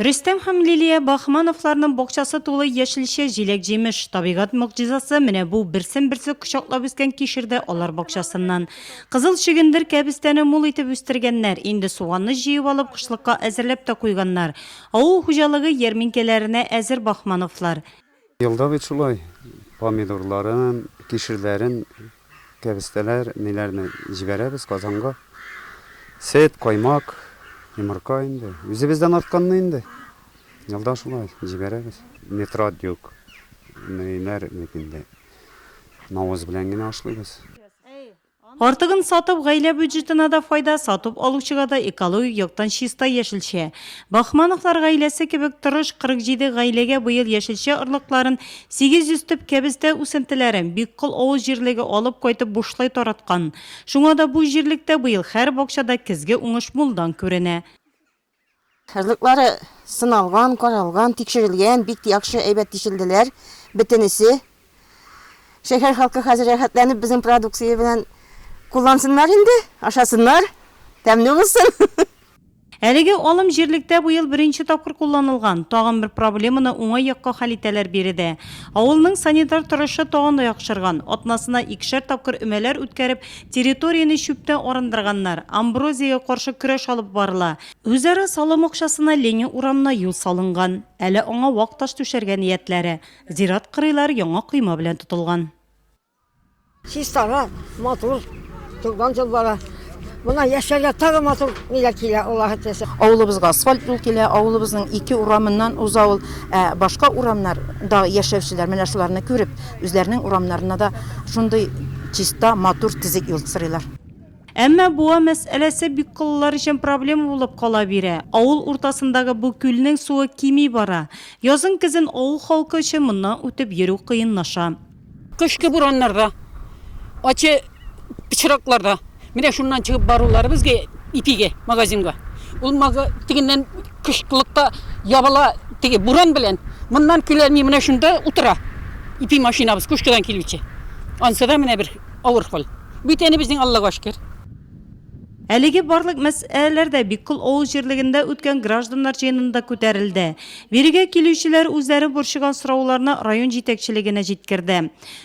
Рөстәм һәм Лилия Бахмановларның бакчасы тулы яшелчә, җиләк-җимеш. Табигать могҗизасы менә бу берсен-берсе кочаклап үскән кишердә алар бакчасыннан. Кызыл чөгендер кәбестәне мул итеп үстергәннәр, инде суганны җыеп алып, кышлыкка әзерләп тә куйганнар. Авыл хуҗалыгы ярминкәләренә әзер Бахмановлар. Елда бит шулай, помидорларын, кишерләрен, кәбестәләр, ниләрне җибәрәбез Казанга. Сөт, каймак, йомырка инде. Үзебездән артканны инде. Елда шулай җибәрәбез. Нитрат юк. Ниләр бит инде. Навоз белән генә ашлыйбыз. Артыгын сатып, гаилә бюджетына да файда, сатып алучыга да экологик яктан чиста яшелчә. Бахмановлар гаиләсе кебек тырыш 47 гаиләгә быел яшелчә орлыкларын 800 төп кәбестә үсентеләрен Биккол авыл җирлеге алып кайтып бушлай тараткан. Шуңа да бу җирлектә быел һәр бакчада көзге уңыш мулдан күренә. Кызлыклары сыналган, каралган, тикшерелгән, бик яхшы, әйбәт тишелделәр бөтенесе. Шәһәр халкы хәзер рәхәтләнеп безнең продукция белән куллансыннар инде, ашасыннар, тәмле булсын. Әлеге алым җирлектә бу ел беренче тапкыр кулланылган. Тагын бер проблеманы уңай якка хәл итәләр биредә. Авылның санитар торышы тагын да яхшырган. Атнасына икешәр тапкыр өмәләр үткәреп, Территорияне чүптән арындырганнар, амброзиягә каршы көрәш алып барыла. Үзара салым акчасына Ленин урамына юл салынган. Әле аңа вак таш түшәргә ниятләре. Зират кырыйлары яңа койма белән тотылган. Чистара, матур, туган тел бара. Монда яшәргә тагын матур ниләр килә, Аллаһы теләсә. Авылыбызга асфальт юл килә, авылыбызның ике урамыннан уза ул. Ә башка урамнар да яшәүчеләр менә шуларны күреп, Үзләренең урамнарына да шундый чиста, матур тезек юл сырыйлар. Әмма буа мәсьәләсе бик кыллылар өчен проблема булып кала бирә. Авыл уртасындагы бу күлнең суы кими бара. Язын-көзен авыл халкы өчен моннан үтеп йөрү кыенлаша. Кышкы бураннарга, ачы. пычракларда менә шуннан чыгып барулары безгә ипиге магазинга ул тегеннән кышлыкта ябыла теге буран белән моннан килә ни менә шунда утыра ипи машинабыз күшкәдән килүче ансы да менә бер авыр хәл бит әни безнең аллага шөкер Әлеге барлык мәсьәләләр дә Биккол авыл җирлегендә үткән гражданнар җыенында күтәрелде. Бирегә килүчеләр үзләре борчыган сорауларны район җитәкчелегенә җиткерде.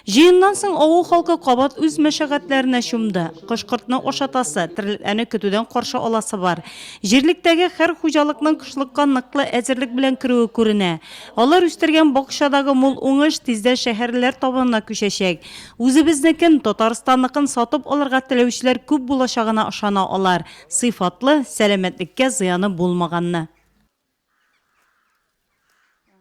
Җыеннан соң авыл халкы кабат үз мәшәкатьләренә чумды. Кош-кортны ашатасы, терлекләрне көтүдән каршы аласы бар. Җирлектәге хәр хуҗалыкның кышлыкка ныклы әзерлек белән керүе күренә. Алар үстергән бакчадагы мул уңыш тиздән шәһәрлеләр табынына күчәчәк. Үзебезнекен, Татарстанныкын сатып алырга теләүчеләр күп булачагына ышана алар, сыйфатлы, сәламәтлеккә зыяны булмаганны.